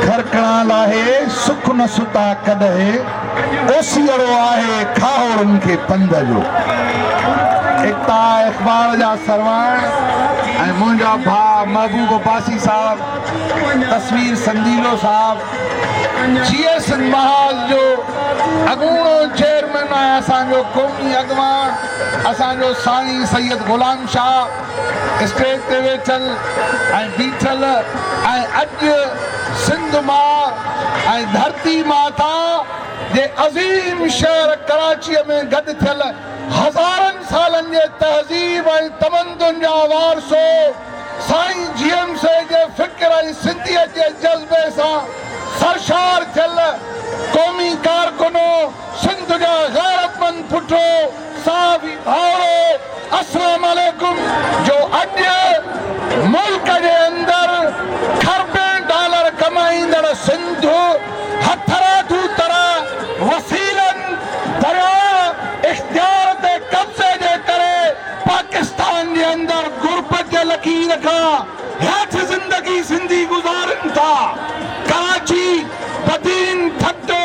کرکڻا لاهي سک نه ستا ڪڏهي، اوسيئڙو آهي کاهوڙن کي پنڌ جو. ايڪتا اخبار جا سرواڻ ۽ منهنجا ڀاء محبوب عباسي صاحب، تصوير سنديلو صاحب، جي ايس اين محاذ جو اڳوڻو چيئرمين ۽ اسان جو قومي اڳواڻ اسان جو ساڻي سيد غلام شاهه، اسٽيج تي ويٺل ۽ بيٺل ۽ اڄ سنڌ ماء ۽ ڌرتي ماتا جي عظيم شهر ڪراچيء ۾ گڏ ٿيل هزارن سالن جي تهذيب ۽ تمدن جا وارثو سائين جيئم سي جي فڪر ۽ سنڌيت جي جذبي سان سرشار ٿيل قومي ڪارڪنو سنڌ جا غيرتمند پٽو صاحب ڀائرو اسلام عليڪم جو اڄ ملڪ جي اندر کربين ڊالر ڪمائيندڙ سنڌ هٿرادو طرح وسيلن درياهه اختيار تي قبضي جي ڪري پاڪستان جي اندر غربت جي لڪير کان هيٺ زندگي سنڌي گذارين ٿا. ڪراچي، بدين، ٺٽو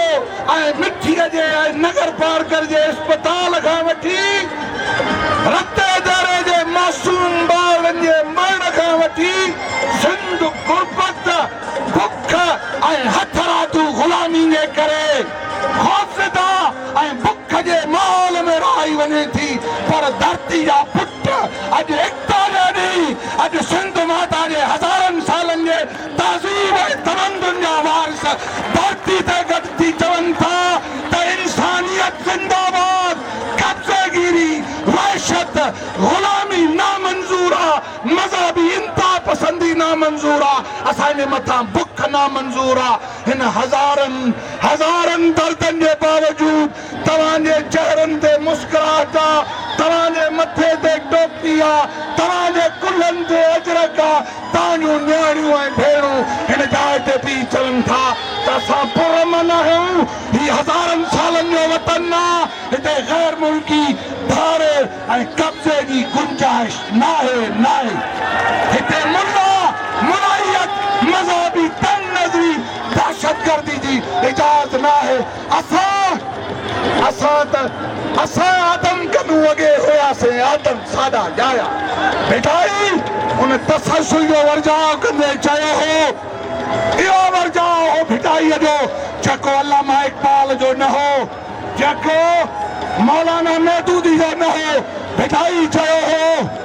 ۽ مٺيء جي ۽ نگرپارڪر جي اسپتال کان وٺي رتي ديري جي معصوم ٻارڙن جي مرڻ کان وٺي سنڌ غربت، بک ۽ هٿرادو غلامي جي ڪري خوفزده ۽ بک جي ماحول ۾ رهائي وڃي ٿي پر ڌرتي جا پٽ اڄ ايڪتا جا ڏينهن، اڄ سنڌ ماتا جي هزارن سالن جي تهذيب ۽ تمدن جا وارث ڌرتي تي گڏ ٿي چون ٿا ته انسانيت زنده باد، قبضي گيري، وحشت، غلامي نامنظور آ، مذهبي انتهاپسندي نامنظور آ، اسان جي مٿان بک نامنظور آ، هن هزارن هزارن دردن جي باوجود توهان جي چهرن تي مسڪراهٽ آ، توهان جي مٿي تي ٽوپي آ، توهان جي ڪلهن تي اجرڪ آ، توهان جون نياڻيون ۽ ڀيڻون هن جاء تي بيهي چون ٿا ته اسان پر امن آهيون، هي هزارن سالن جو وطن آ، هتي غير ملڪي ڌاڙي ۽ قبضي جي گنجائش ناهي، ناهي هتي ملا، ملائيت، مذهبي تنگ نظري، دهشتگردي جي اجاز ناهي. اسان اسان ته اسان آدم ڪنون اڳي هياسين آدم ساڏا ڄايا ڀٽائي ان تسلسل جو ورجاء ڪندي چيو هو اهو ورجاء هو ڀٽائي جو جيڪو علامه اقبال جو نه هو جيڪو مولانا مودودي جو نه هو ڀٽائي چيو هو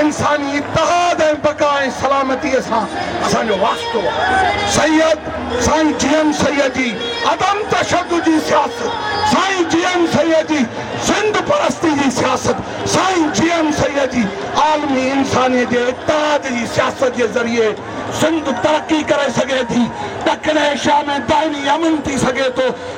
انساني اتحاد ۽ بقا ۽ سلامتيء سان اسان جو واسطو آهي. سيد سائين جي ايم سيد جي عدم تشدد جي سياست، سائين جي ايم سيد جي زندھ پرستي جي سياست، سائين جي ايم سيد جي عالمي انسانيت جي اتحاد جي سياست جي ذريعي زندھ ترقي ڪري سگهي ٿي، ڏکڻ ايشيا ۾ دائمي امن ٿي سگهي ٿو.